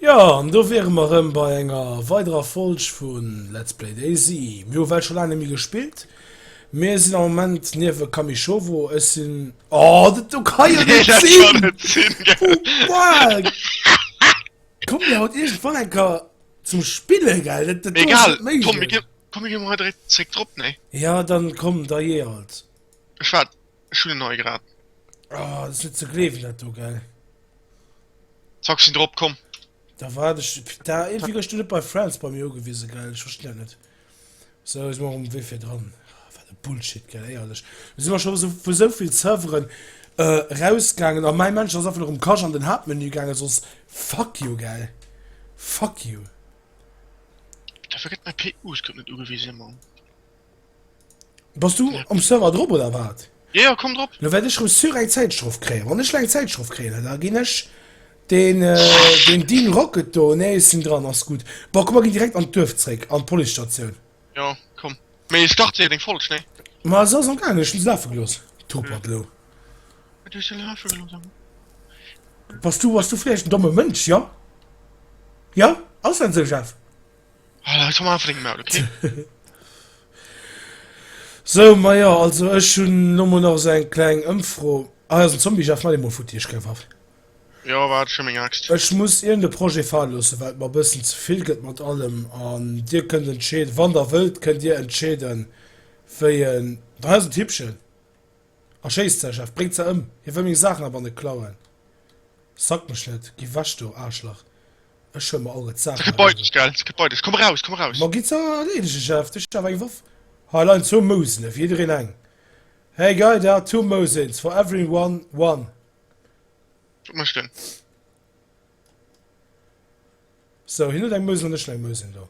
Jo, an do wiere mer erëm bei enger weiderer Folg vu Let's Play DayZ. Mir hu well scho laang net méi gespillt. Mir sinn am Moment niewe Kamishowo. Ech sinn, oh, dat do kann jo net sinn! Oh fuck! Kommt mir haut iergendwann enker zum Spille, gell? Dat, dat do ass Egal, net komm mir méiglech. ginn, komm mir ginn emol hei direkt zréck drop, nee? Ja, dann komm, da jee halt. Ech waart. Ech hunn en hei grad. Oh, dat ass net ze gleewen dat do, gell? Zack, sinn drop, komm. Da war ech da irgendwie gëscht du net bei Friends bei mir ugewise gell ich verstehe net so is mor um wee fir dran ah, wat de Bullshit gell eierlech si war schon so vu soviel Serveren äh, rausgangen an mein Mensch ass einfach um Kasch an den Hauptmenü gange sos fuck you gell fuck you da vergëtt mein PU net ugewise man Bass du um Server drop oder wat? Jo, jo, komm drop. Lo wäert ech rëm sûr eng Zäitstrof kréien. Wann ech lo eng Zäitstrof kréien, Alter, da ginn ech den, den Dean Rocket do, nee, ech sinn dran, ass gutt. Bon, komm, mer ginn direkt an d'Duerf zréck, an d'Policestatioun. Jo, komm. Mee start séier deng Folg, nee? Ma se ass am gaangen, ech hunn se lafe gelooss. Topert lo. Du hues se lafe gelooss, Abu? Bass du, bass du vläicht en domme Mënsch, jo? Jo? Ass dat esou, Jeff? Sou, majo, also ech hunn elo mol nach esou eng kleng Ëmfro. Ah jo, den Zombie Jeff mat deem mol futti ech geif awer. Jo, war scho meng Axt. Ech muss iergend e Projet fale loossen, well et mer e bëssen ze vill gëtt mat allem. An dir kënnt entscheeden, wann der wëllt, kënnt dir entscheeden, wéi en. Hei ass et, Hippchen. Erschéisst säi Chef, bréngt se ëm. Hie wëll meng Saachen a banne klauen. Sack mech net, gi wech do, Aarschlach, ech huel mer all ret Saachen a banne. Ma gitt se erleedegen, Chef, de Chef, eng Woff. Hei leien zwou Mousene, fir jiddereen eng. Hey guy, der hat two mousins, for everyone one. Wat mécht en? Sou, hien huet eng Mousen an ech hunn eng Mousen do.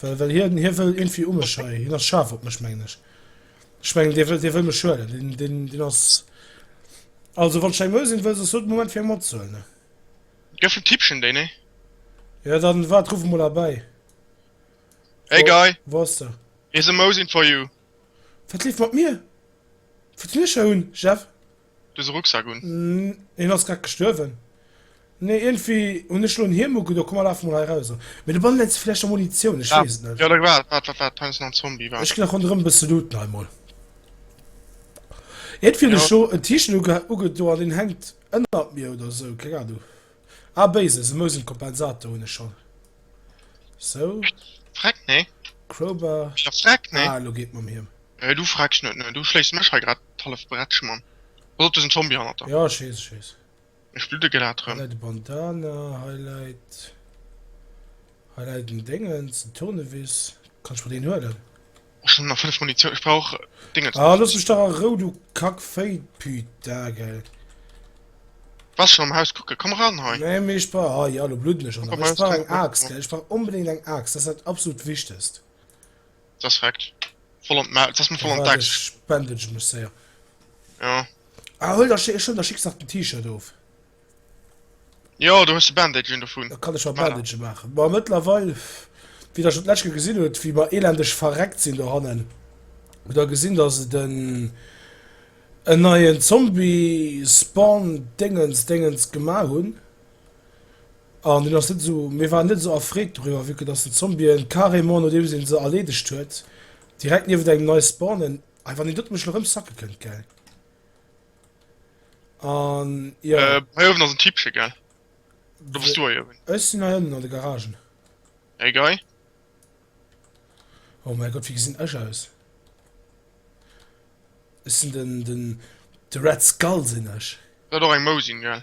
Well, well hien, hie wëll irgendwie um mech hei. Hien ass scharf op mech, mengen ech. Ich mengen, der wëll, der wëll mech schuelen. Den, den, den ass... Also, wann Schein Möll sinn, wëll se so den Moment fir eng matzuelen, ne? Gëff en Tippchen, déi, ne? Ja, dann wart, ruf en mol erbei. Hey, wo, Guy! Wo ass der? Here's a Mosin for you. Wat leeft mat mir? Wat hunn ech hei un, Jeff? Dose Rucksack un. Hien ass grad gestuerwen. Nee iergendwéi hunn ech elo en Hiem ugedo. Komm mer lafe mol hei eraus. Mee do bannen se vläicht a Munitioun, ech weess et net. Jo da wat wat wat wat peinst du nach en Zombie wat? Ech ginn nach ronderëm e bësse looten hei mol. Iergendwéi hunn ech elo en T-Shirt ugedo an deen hänkt ënnert mir oder esou, keng Anung. Ah Basis, e Mousenkompensator hunn ech schonn. Sou. Freck nee. Crowbar. Freck nee. Ah elo geet mam Hiem. Hei du frecks net ne, du schléis mech hei grad d'hallef Bretsch man. Pass op, do sinn Zombie hannert der. Jo, schéiss, schéiss. Ech bludde grad rem. Hei läit e Bandana, hei läit, hei läit en Déngens, en Tournevis. Kanns mer deen huelen? Ech hunn nach 5 Munitioun, ech brauch Déngens. Ah, looss mech dach a Rou, du Kackvéi, Pütagel. Wars schon am Haus kucken, komm ran hei. Nee, mee ech brauch, ah ja, lo bludden ech och nach. Ech brauch eng Aaxt, gell, ech brauch onbedéngt eng Aaxt, dat ass dat absolut Wichtegst. Dass rekt voll an d'Maul, dass mer voll an d'Axt. Ech bandage mech séier. Jo. Ah, huel der, ech hunn der, schicks nach den T-Shirt of. Jo, do hues de Bandage un dovun. Da kann ech mer Bandage maachen. Bon, mëttlerweil, wéi der schonn d'lescht Kéier gesinn hutt, wéi mer elendeg verreckt sinn dohannen, hutt der gesinn, dass et en, en neien Zombie-Spawn-Déngens, Déngens gemaach hunn. An deen ass net esou, mir waren net esou erfreet doriwwer, vue que dass den Zombien carrément nodeems een se erleedegt huet, direkt niewent engem nei spawnen. Hei wann een doten mech elo rëm sacke kënnt, gell? An jo. Äh, hei uewen ass en Typche, gell? Oder bass du hei uewen? Ech sinn hei ënnen an de Garagen. Hey guy. Oh mäi Gott, wéi gesinn ech aus? Ech sinn den, den, de Red Skull sinn ech. Dat och eng Mou sinn, gell?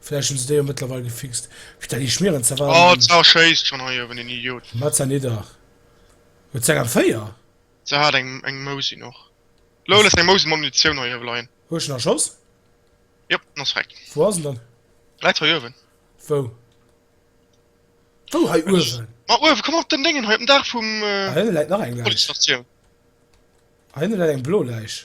Vläicht hunn se déi jo mëttlerweil gefixt. Putain, déi schmieren ze warm. Oh, d'Sar schéisst schonn hei uewen, den Idiot. Mat se nidder. Huet se eng M4? Se hat eng eng Mosin och. Lol, ech eng Mosin mat Munitioun hei uewe leien. Hu ech en erschoss? Jop, en ass weg. Wou ass en dann? Läit hei uewen. Wou? Wou hei uewen? Ma uewen, komm op den Déngen hei, op den Daach vum. Ah, hinne läit nach eng Läich. Policestatioun. Ah, hinne läit eng blo Läich.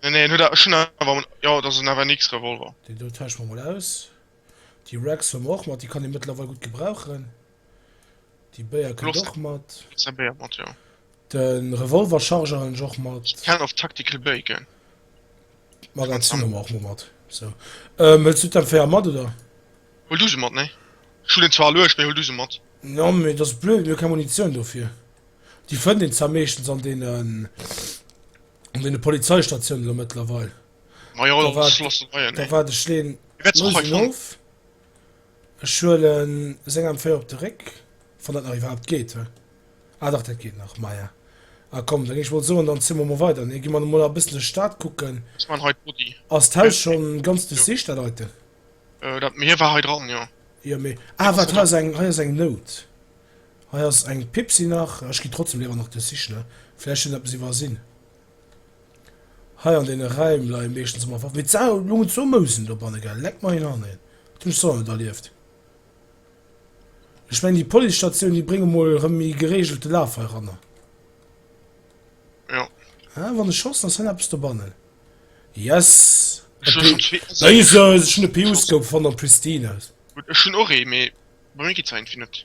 Nee, nee, en huet awer, schonn awer am, jo, dat ass en AVNX Revolver. Deen do tauschen mer mol aus. Déi Rags hun mer och mat, déi kann een mëttlerweil gudd gebrauchen. Déi Béier kënnt Loft. och mat. Kriss eng Béier mat, jo. Den Revolver Charger hun ech och mat. Can of Tactical Bacon. Magazin hun mer och mol mat. Sou. Ehm, wëlls du d'M4 mat, oder? Huel du se mat, nee. Ech hun en zwar aluecht, mee huel du se mat. Jo, mee et ass blöd, mir hu keng Munitioun dofir. Déi fënnt een zwar meeschtens an deenen. An den Polizeistatiounen lo mëttlerweil. Ma jo, da war de Schleen of. Ech huelen seng am Féier op de Réck, wann dat nach iwwerhaapt geet. Ah dach, dat geet nach. Maja, a komm, dann ech wollt soen, dann zi mer mol weider. Nee, gi mer emol nach bëssen duerch d'Stad kucken. Ass d'Haus scho ganz duerchsicht, dat heite? Dat hie war hei dran, jo. Jo, mee, ah wat, hei ass eng, hei ass eng Nout. Hei ass eng Pipsi nach, ech ginn trotzdem léiwer nach de Sichne, vläicht hunn eppes iwwersinn. Hei an deene Räim leie meeschtens ëmmer Waffen, mee d'Sau loungen zwou Mousen dobanne, gell? Leck mer een an een, dat hunn ech sonner net erlieft. Ech mengen déi Policestatioun, déi brénge mol erëm méi gereegelte Laf heiranner. Ah, wann ech schossen, ass hei nach eppes dobannen. Yes! E P. Jesus, ech hunn e P-Uskope fonnt, am Pristine. Gutt, ech hunn och ee, mee bei mir geet se iergendwéi net.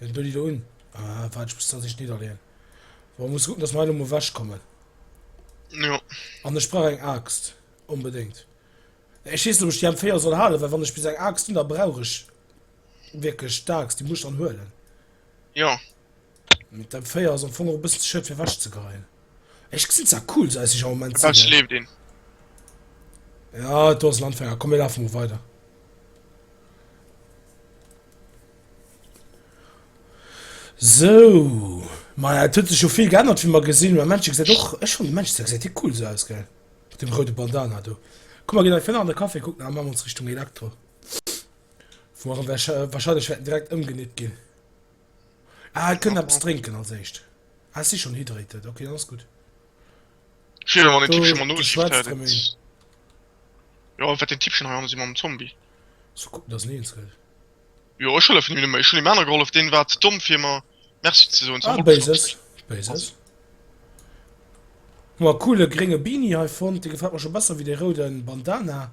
Elo doe déi do un. Ah, waart, ech muss dat sich niederleen. Wo muss gucken, dass mer elo mal wegkommen. Ja. An ech brauch eng Axt. Unbedingt. Ech wees net, ob ech die M4 soll halen, well wann ech bis eng Axt hun, da brauch ech wirklich d'Axt. Die muss ech dann huelen. Ja. Mit dem 4 ass am Fong och bis Schëld fir wäsch ze geien. Ech gesinn zwar cool so eisg Moment. Da schleef den. Ja do ass Landfänger kom mir lafen mo weider. So Ma ja, huet sech jo vill geännert wie man gesinn man Mënsche gesät och ech hun Mënsch se se cool se aus gell dem roude Bandana do. Ku mal gin fënner an der Kaffee kucken a ma ons Richtung Elektro. Wo wahrscheinlech wäerten direkt ëmgenitt ginn. Ah, et kënnt eppes drénken als éischt. Ah, ech si schonn hydrated, ok, dann ass gutt. Ech wéilt awer den Tippchen mol nosi wat dat ass. Jo, wat den Tippchen hei ansi mam Zombie. Soll kucken, dass en eens gëtt. Jo, ech hëllefen him nëmme, ech hunn him aner gehollef, deen war ze domm fir mer Merci ze soen. Ah, Béises, Béises. Hu mer e coole grénge Beanie hei fonnt, dee gefält mer scho besser wéi dee rouden Bandana.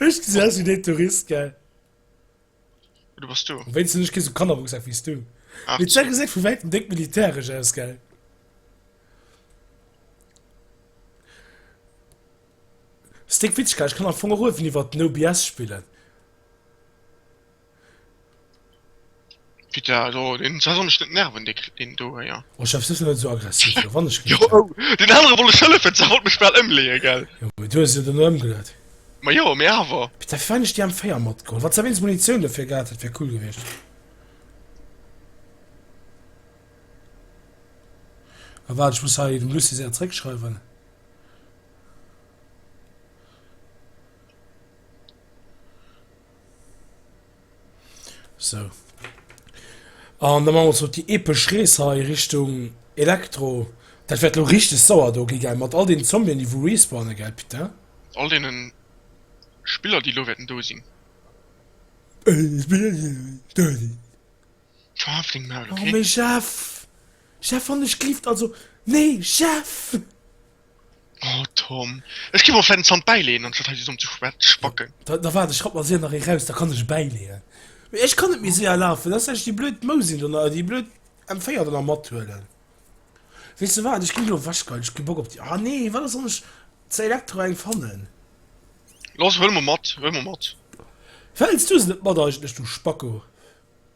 Ech gesi aus wéi dee Tourist, gell? Du bass du. Am wéinsten ech kee sou Kannerrucksak wéi s du. Mee d'Sa geséit vu wäitem déck militäresch aus, gell? Stick Witschka, ech kann am Fong och uewen iwwert No BS spillen. Peter do den ass och net nerven de den do ja. Oh Chef sëss net esou aggressiv jo wann ech gin. Jo oh den anere wollt ech hëllefen se wollt mech bal ëmleeë gell. Jo mee du hues se duerno ëmgeleet. Ma jo mee awer. Peter firwat hunn ech déi M4 matgeholl wann s de wéinst Munitioun dofir gehat hätt wär cool gewiescht. A waart ech muss hei dem Lucie säin zréck schreiwen. So. An da man mer op déi epesch Rees hei Richtung Elektro. Dat wäert lo richteg sauer do gi gell, mat all deenen Zombien déi wou respawnen gell putain. All deenen Spiller déi lo wäerten do sinn. All deenen Spiller déi lo wäerten do sinn. Haf deng Maul ok. Oh mee Jeff, Jeff wann ech glift also nee Jeff. Oh Tom, ech gi mer vläit en Zant bäileeën, anstatt hei dësem ze spacken. Da, da waart, ech rapp mer séier nach ee raus, da kann ech e bäileeën. Mee ech kann net méi séier lafen, da ech déi blöd Mousin do na, déi blöd M4 do nach mathuelen. Weess de wat, ech ginn elo ewech geil, ech hu kee Bock op déi. Ah nee, wat ass, wann ech zu Elektro eng fannen? Lass, huele mer mat, huele mer mat. Wéilt s du se net mat eigentlech, du Spacko?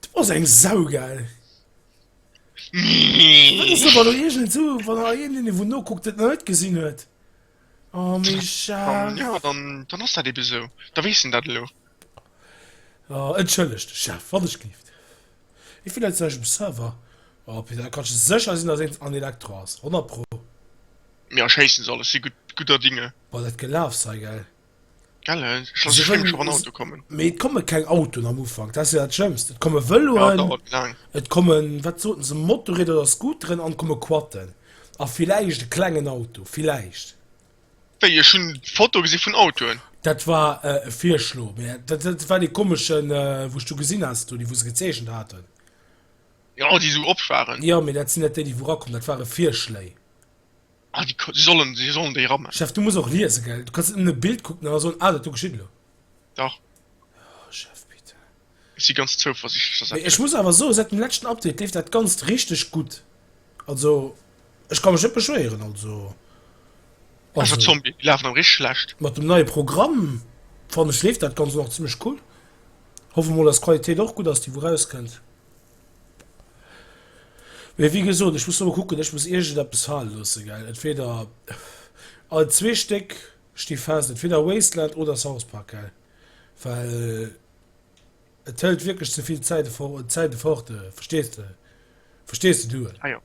Du ass eng Sau gell! Dat ass awer elo iergend esou, wann der een deen ee wou nokuckt dat nach net gesinn huet. Oh Mischa. Jo dann dann ass dat ebe esou, da weess en dat elo. Oh entschëllegt Chef, wann ech géif. Ee Fehler zu eisem Server. Oh Peter, da kanns de sécher sinn, dass eent an Elektro ass, 100 pro. Mir erschéissen se alles, si gudder Dinge. Boah dat Gelaafs hei gell. Mee et komme keng Autoen am Ufank, dat ass jo dat Schlëmmst. Et komme Vëloen, et kommen, wat soten se, Motorrieder oder Scooteren an et komme Quatten. A villäicht e klengen Auto, villäicht. Wéi, ech hunn Fotoe gesi vun Autoen. Dat war e Virschlo, mä dat war dee komeschen, wou ech du gesinn hat, do déi, wou se gezeechent haten. Jo, déi esou op waren. Jo, mee dat sinn net déi, déi wou erakommen. Dat ware Virschléi. Ah, déi si sollen, si sollen déi rammen. Chef, du muss och liese, gell? Du kanns net nëmmen e Bild kucken an da soen, ah, dat do geschitt elo. Dach. Oh, Chef, bitte. Ech si ganz zouversichtlech, dass dat Mee ech muss awer soen, säit dem leschten Update leeft dat Ganzt richteg gutt. Also, ech ka mech net beschwéieren, also, also. Escher Zombie, déi lafen awer richteg schlecht. Mat dem neie Programm, fannen ech, leeft dat Ganzt och nach zimmlech cool. Hoffe mol, dass d'Qualitéit och gutt ass, déi wou rauskënnt. Mee wéi gesot, ech muss nach mol kucken, ech muss iergendeppes fale loosse, gell. Entweder, all zwee Stéck sti fest, entweder Wasteland oder South Park, gell, well et hëlt wierklech ze vill Zäit fo Zäite fort, verstees de, verstees de duel? Ah jo.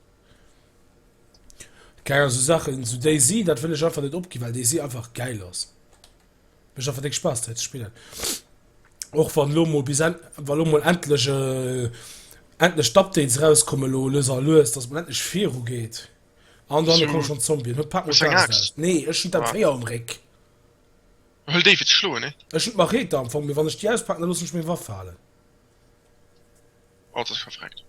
Keng Ahnung, esou Saachen, esou DayZ, dat wëll ech einfach net opginn, well DayZ einfach gäil ass. Mécht einfach déck Spaass dei ze spillen. Och wann elo mol bis en wann elo mol endlech endlech d'Updates rauskommen elo lues a lues dass mol endlech viru geet. An dann elo komme schonn d'Zombien. Huet d'Pad mol Hues eng d'Angscht Axt? aus. Nee ech hunn Ah. d'M4 am Réck. Huel déi fir ze schloen, nee? Ech hunn d'Machete am Fong mee wann ech déi auspaken da loossen ech meng Waff falen. Haut ass verfreckt.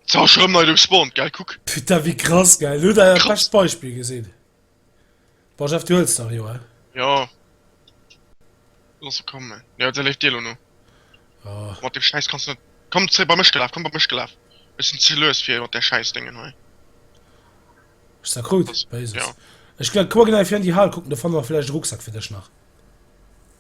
Sou ass rem nei respawned geil kuck. Putain wéi krass geil elo dat Krass. bescht Beispill gesinn. Bon Jeff du huels nach jo he? Jo. Lass se kommen. Jo se leeft dir elo no. Oh. Mat dem Scheiß kanns net. Komm zréck bei mech gelaf, komm bei mech gelaf. Ech sinn ze lues fir mat der Scheiß Déngen hei. Ech sag krut, Was? Basis. Ja. Ech gleich kucken einfach an die Hal kucken, do fanne mer vläicht e Rucksack fir dech nach.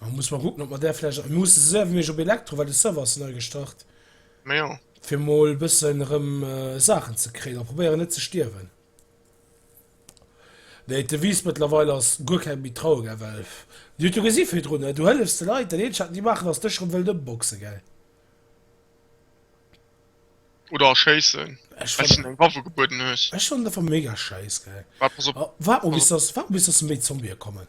Hu muss mer kucken op mer där vläicht. Mir musse se ewech op Elektro, well de Server ass nei gestart. Ma jo. Fir mol e bëssen erëm Saachen ze kréien a probéieren net ze stierwen. Nee, d'Devise mëttlerweil ass guer keng méi traue, gell, well Dir hutt jo gesi virdrun, ne? Du hëllefs de Leit, dat eenzegt wat déi maachen ass dech erëm wëllt ëmboxen, gell? Oder erschéissen, Ech well s hinnen eng Waffe gebueden hues. Ech fannen et einfach mega schäiss, gell? Wa pass op. Waart mol bis dass, waart mol bis dass méi Zombie kommen.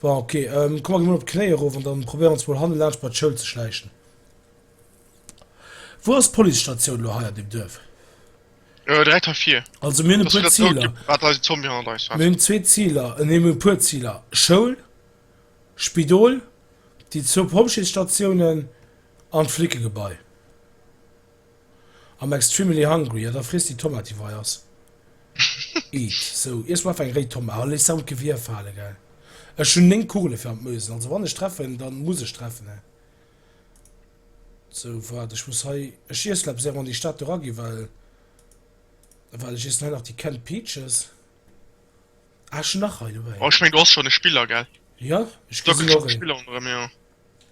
Bon, ok, komm mer gi mol op d'Knéi erof an dann probéier ons mol hanne laanscht bei d'Schoul ze schläichen. Wou ass d'Policestatioun lo hei an deem Duerf? Äh, direkt hei vir. Also mir hunn e puer Ziler. Wat eisen Zombie hannert eis hat. Mir hunn zwee Ziler, nee, mir hunn e puer Ziler, Schoul, Spidol, déi zwou Pompjeesstatiounen an d'Flickegebai. I'm extremely hungry, ja da friess déi Tomati wei ass. Eat, sou, iess mol einfach eng réi Tomate a léiss se am Gewier fale, gell. Ech hunn 9 Kugele fir an d'Mösen, also wann ech treffen, dann muss ech treffen, he. Sou, waart, ech muss hei, ech iess lo eppes éier mer an déi Stad do raginn, well, well ech iessen hei nach déi canned peaches. Ah, ech hunn nach hei dobäi. Oh, ech meng, do ass schonn e Spiller, gell? Jo, ech gesi se och.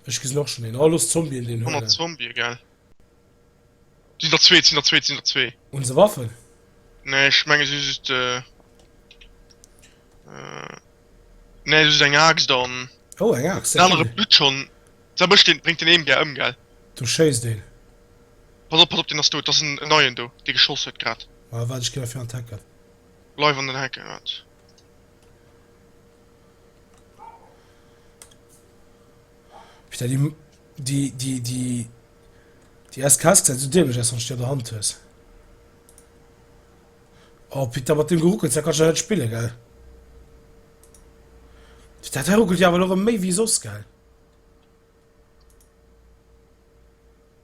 Ech gesinn och schon een. Oh los Zombien deen Huele. 100 Zombie gell. Sinn der zwee, sinn der zwee, sinn der zwee. Hunn se Waffen? Nee ech menge si hu just äh nee just eng Aaxt an Oh eng Aaxt, den ja anere cool. blutt schon. Seb ech den bréngt den een gär ëm gell. Do schéisst een. Pass op, pass op, deen ass dout. Dat ass en neien do dee geschoss huet grad. Mä wat ech ginn a fir an d'Hecken. Bleif an den Hecken, wat. Putain, die, die, die, die, die SKS sieht so dämlich aus, wenn du an der Hand hast. Oh, Peter, mit dem Geruckels, da kannst du nicht spielen, gell? Der ruckelt ja aber noch mehr wie sonst, gell?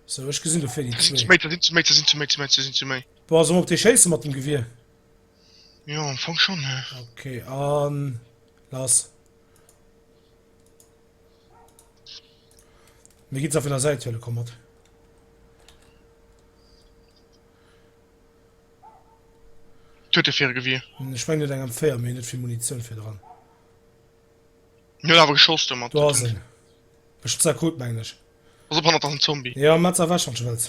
So, ich gesehen dafür die zwei. Sind zu mehr, sind zu mehr, sind zu mehr, sind zu mehr. Boah, so auf die Scheiße mit dem Gewehr. Jo, am Fong schon, he. Ok, an lass. Mir ginn se vun der Säit huele komm mat. Huet e fir Gewier? Ech meng net eng am 4, mee net vill Munitioun fir dran. Mir awer geschoss do mat. Do ass en. Ech hunn ze akut mengen ech. Pass op hannert ass en Zombie. Jo, Metz erwäch wann s de wëlls.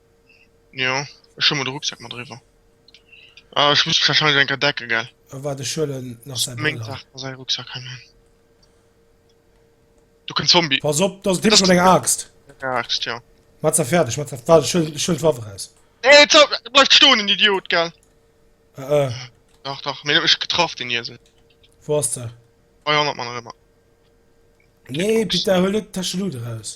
Jo, ech hu mol de Rucksack mat eriwwer. Ah, ech muss mech wahrscheinlech enker decke, gell? Ah, waart, ech huelen nach säi Brëll hei. Meng säi Rucksack hei man. Do kënnt Zombie. Pass op, dat ass d'Hipsch mat enger Aaxt. Eng Aaxt, jo. Mat se fäerdeg, mat se. Waart, ech huelen, ech huelen d'Waff eraus. Nee, zou! Bleift stoen, en Idiot, gell? Äh, äh. Dach, dach, mee huet mech getraff, den Iesel. Wou ass de? Hei hannert mer nach ëmmer. Nee, Peter, huel net d'Täscheluut eraus.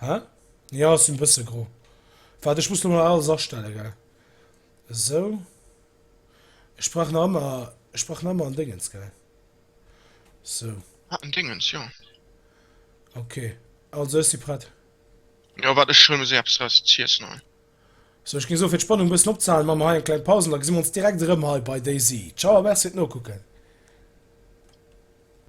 Hä? Jo, ech sinn bësse gro. Waart, ech muss lo nach alles astellen, gell? Esou. Ech brauch nach ëmmer, ech brauch nach ëmmer en Déngens, gell? Esou. Ah, en Déngens, jo. Ok, also ech si prett. Jo, waart, ech huelen mir se eppes eraus z'iessen hei. Esou, ech géing soen, fir d'Spannung e bëssen opzehalen, maache mer hei eng kleng Paus an da gesi mer ons direkt erëm hei bei DayZ. Ciao a merci fir d'Nokucken!